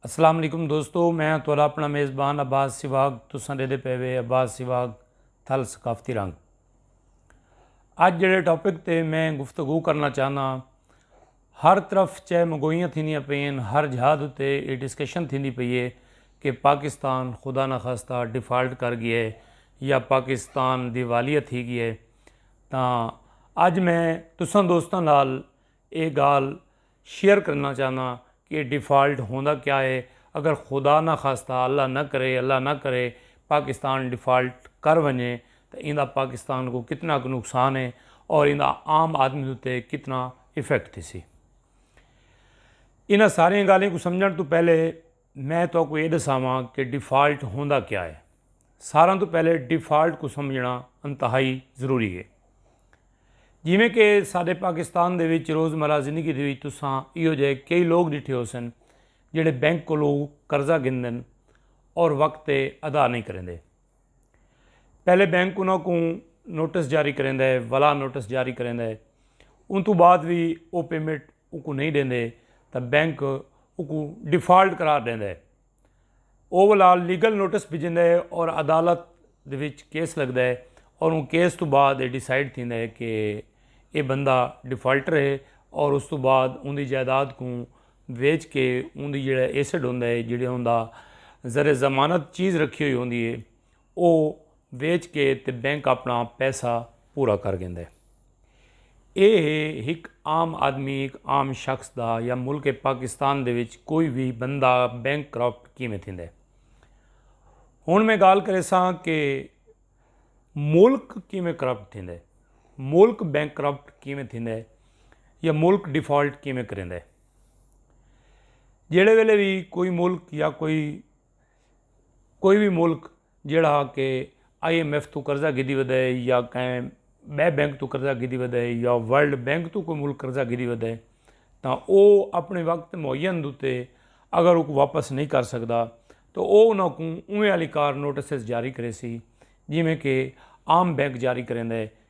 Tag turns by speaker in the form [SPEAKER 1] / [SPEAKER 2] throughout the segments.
[SPEAKER 1] السلام علیکم دوستو میں ہاں تہاڈا اپنا میزبان عباس سواگ تساں ڈیدے پے وے عباس سواگ تھل ثقافتی رنگ اج جڑے ٹاپک تے میں گفتگو کرنا چاہنا ہر طرف چہ مگوئیاں تھیندیاں پئین ہر جہاں تے یہ ڈسکشن تھیندی پئی ہے کہ پاکستان خدا نہ خاصتا ڈیفالٹ کر گیا ہے یا پاکستان دیوالیہ تھی گیا ہے تاں اج میں تساں دوستاں نال اے گال شیئر کرنا چاہنا کہ ڈیفالٹ ہوندا کیا ہے اگر خدا نہ خاصتا اللہ نہ کرے اللہ نہ کرے پاکستان ڈیفالٹ کر ونجے تاں ایندا پاکستان کوں کتنا ک نقصان ہے اور ایندا عام آدمی اتے کتنا ایفیکٹ تھیسی انہاں ساریاں گالھیں کوں سمجھن توں پہلے میں تہاکوں یہ دساواں کہ ڈیفالٹ ہوندا کیا ہے ساراں تو پہلے ڈیفالٹ کو سمجھنا انتہائی ضروری ہے جویں کہ سارے پاکستان دے وچ روزمرہ زندگی دے وچ تساں ایو جے کئی لوگ ڈٹھے ہو سن جڑے بینک کو لو قرضہ گندن اور وقت تے ادا نہیں کریں دے پہلے بینک انہاں کو نوٹس جاری کریں دے ولا نوٹس جاری کریں دے ان تو بعد بھی او پیمنٹ اوکوں نہیں ڈیندے تاں بینک اوکوں ڈیفالٹ قرار ڈیندا ہے۔ او ولا لیگل نوٹس بھیجیندا ہے اور عدالت دے وچ کیس لگدا ہے اور اوں کیس توں بعد اے ڈیسائیڈ تھیندا ہے کہ اے بندہ ڈیفالٹر ہے اور اس توں بعد اوندی جائیداد کوں ویچ کے اوندی جیڑھا ایسڈ ہوندا ہے جیڑھا ہوندا زر ضمانت چیز رکھی ہوئی ہوندی ہے۔ او ویچ کے تے بینک اپنا پیسہ پورا کر گیندے۔ اے ہے ہک عام آدمی ہک عام شخص دا یا ملک پاکستان دے وچ کوئی وی بندہ بینک کرپٹ کیویں تھیندے۔ ہن میں گال کریساں کہ ملک کیویں کرپٹ تھیندے۔ ملک بینک کرپٹ کیویں تھیندے یا ملک ڈیفالٹ کیویں کریندے۔ جیڑے ویلے وی کوئی ملک یا کوئی کوئی بھی ملک جیڑا کہ آئی ایم ایف تو قرضہ گھدی ودا ہے یا کہیں بے بینک تو قرضہ گھدی ودا ہے یا ورلڈ بینک تو کوئی ملک قرضہ گھدی ودا ہے تاں او اپنے وقت معین دوتے اگر او کو واپس نہیں کر سکدا تو او انہاں کو اوہیں علی کار نوٹسز جاری کرے سی جیویں کہ عام بینک جاری کریں دے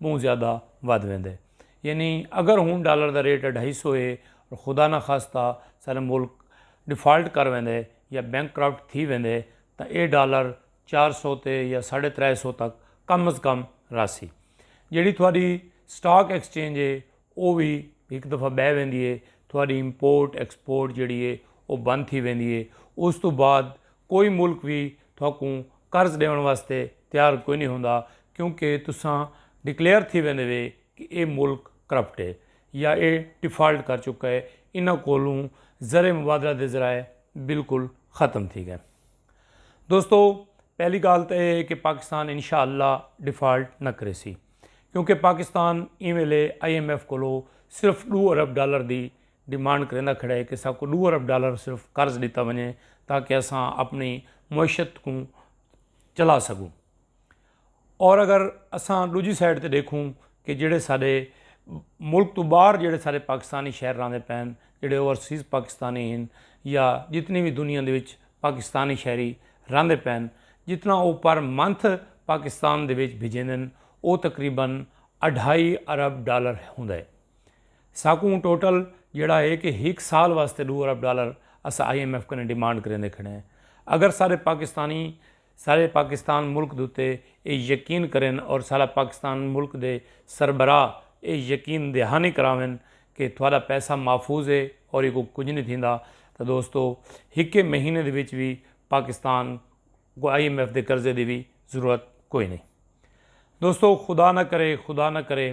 [SPEAKER 1] ٻہوں زیادہ ودھ ویندے یعنی اگر ہوں ڈالر دا ریٹ اڈھائی سو ہے اور خدا نہ خاصتا سارے ملک ڈیفالٹ کر ویندے یا بینک کرپٹ تھی ویندے تاں اے ڈالر چار سو تے یا ساڑھے ترے سو تک کم از کم راسی جیڑی تھوڑی سٹاک ایکسچینج ہے او وی ہک دفعہ بہ ویندی ہے تھوڑی امپورٹ ایکسپورٹ جیڑی ہے او بند تھی ویندی ہے اس تو بعد کوئی ملک وی تہاکوں قرض ݙیوݨ واسطے تیار کوئی نی ہوندا کیونکہ تساں ڈکلیئر تھی ویندے وے کہ اے ملک کرپٹ اے یا اے ڈیفالٹ کر چکا اے انہاں کولوں زر مبادلہ دے ذرائع بالکل ختم تھی ڳئن دوستو پہلی ڳالھ تاں اے ہے کہ پاکستان انشاء اللہ ڈیفالٹ نہ کریسی کیونکہ پاکستان ایں ویلے آئی ایم ایف کولو صرف ݙو ارب ڈالر دی ڈیمانڈ کریندا کھڑا ہے کہ ساکوں ڈو ارب ڈالر صرف قرض ڈیتا ونجے تاکہ اساں اپنی معیشت کوں چلا سکوں اور اگر اساں ڈوجی سائڈ تے ڈیکھوں کہ جڑے سارے ملک تو باہر جڑے سارے پاکستانی شہر راندے پین جڑے اوورسیز پاکستانی ہیں یا جتنی بھی دنیا دے وچ پاکستانی شہری راندے پین جتنا او پر منتھ پاکستان دے وچ بھیجیندن او تقریبا اڈھائی ارب ڈالر ہوندا ہے ساکوں ٹوٹل جیڑھا ہے کہ ہک سال واسطے ݙو ارب ڈالر اساں آئی ایم ایف کنیں ڈیمانڈ کریندے کھڑے ہیں اگر سارے پاکستانی سارے پاکستان ملک دے اتے اے یقین کرن اور سارا پاکستان ملک دے سربراہ اے یقین دہانی کراون کہ تہاڈا پیسہ محفوظ ہے اور ایکوں کجھ نی تھیندا تاں دوستو ہکے مہینے دے وچ وی پاکستان کوں آئی ایم ایف دے قرضے دی وی ضرورت کوئی نی دوستو خدا نہ کرے خدا نہ کرے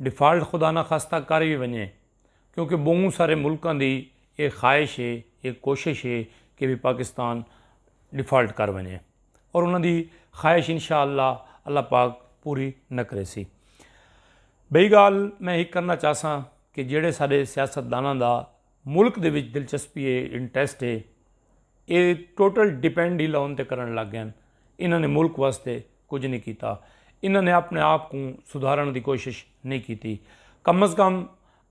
[SPEAKER 1] ڈیفالٹ خدا نہ خاصتہ کر وی ونجے کیونکہ بہوں سارے ملکاں دی اے خواہش اے اے کوشش اے کہ وی پاکستان ڈیفالٹ کر ونجے اور انہاں دی خواہش انشاءاللہ اللہ پاک پوری نہ کریسی بئی گال میں ہک کرنا چاہساں کہ جیڑے سارے سیاست داناں دا ملک دے وچ دلچسپی ہے انٹرسٹ ہے اے ٹوٹل ڈیپینڈ ہی لون تے کرن لگ گئن انہاں نے ملک واسطے کچھ نہیں کیتا انہاں نے اپنے آپ کوں سدھارن دی کوشش نہیں کیتی کم از کم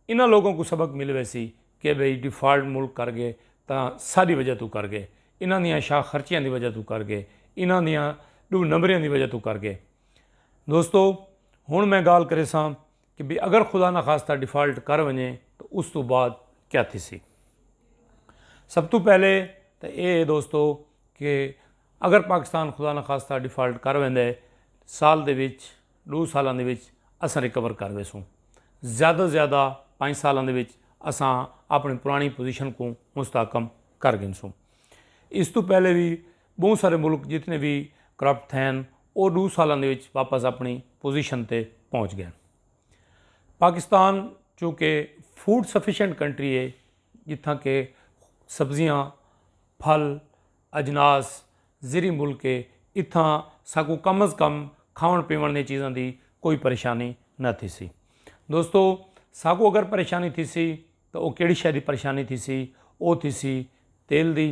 [SPEAKER 1] انہاں لوگوں کو سبق مل ویسی کہ بھئی ڈیفالٹ ملک کر گئے تاں ساڈی وجہ تو کر گئے انہاں دیاں شاہ خرچیاں دی وجہ تو کر گئے انہاں دیاں ڈو نمبریاں دی وجہ تو کر گئے دوستو ہن میں گال کریساں کہ بھئی اگر خدا نخواستہ ڈیفالٹ کر ونجے تو اس تو بعد کیا تھیسی سب تو پہلے تو اے ہے دوستو کہ اگر پاکستان خدا نخواستہ ڈیفالٹ کر ویندے سال دے وچ دو سالاں دے وچ اساں ریکور کر ویسوں زیادہ سے زیادہ پانچ سالاں دے وچ اساں اپنی پرانی پوزیشن کو مستحکم کر گھنسوں اس تو پہلے بھی بہوں سارے ملک جتنے بھی کرپٹ تھین وہ ڈو سالاں دے وچ واپس اپنی پوزیشن تے پہنچ گئے پاکستان چونکہ فوڈ سفیشینٹ کنٹری ہے جتھاں کہ سبزیاں پھل اجناس زیری ملک ہے اتھاں ساکو کم از کم کھاون پیون دی چیزاں دی کوئی پریشانی نہ تھی سی دوستو ساکو اگر پریشانی تھی سی تو وہ کیڑی شہری پریشانی تھی سی وہ تھی سی تیل دی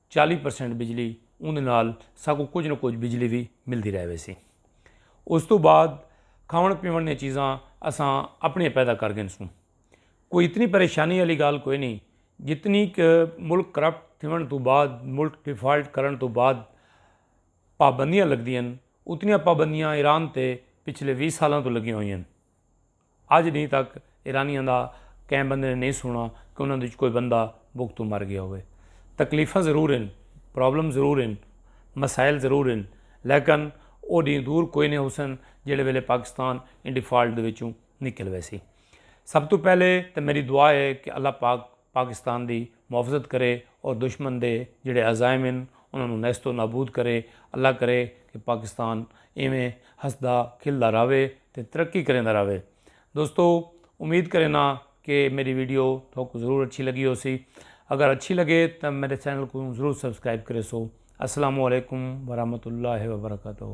[SPEAKER 1] چالی پرسینٹ بجلی اندر نال ساکوں کچھ نہ کچھ بجلی بھی ملتی رہ ویسی اس تو بعد کھاون پیون نے چیزاں اساں اپنے پیدا کر گن سوں کوئی اتنی پریشانی والی گال کوئی نہیں جتنی کہ ملک کرپٹ تھیون تو بعد ملک ڈیفالٹ کرن تو بعد پابندیاں لگدیاں اتنیاں پابندیاں ایران تے پچھلے ویہہ سالاں تو لگیاں ہوئیاں اج ڈینھ تک ایرانیاں دا کہیں بندے نے نئیں سنڑا کہ انہاں دے وچ کوئی بندہ بکھ توں مر گیا ہووے۔ تکلیفاں ضرور ہن، پرابلم ضرور ہن، مسائل ضرور ہن لیکن او ڈینھ دور کوئی نئیں ہوسن جیڑھے ویلے پاکستان ایں ڈیفالٹ دے وچوں نکل ویسی۔ سب توں پہلے تے میڈی دعا ہے کہ اللہ پاک۔ پاکستان دی محافظت کرے اور دشمن دے جیڑھے عزائم ہن انہاں نوں نیست و نابود کرے، اللہ کرے کہ پاکستان ایویں ہسدا کھلدا رہوے تے ترقی کریندا رہوے۔ دوستو امید کرینداں کہ میڈی ویڈیو تہاکوں ضرور اچھی لگی ہوسی۔ اگر اچھی لگے تاں میڈے چینل کوں ضرور سبسکرائب کریسو۔ السلام علیکم ورحمۃ اللہ وبرکاتہ۔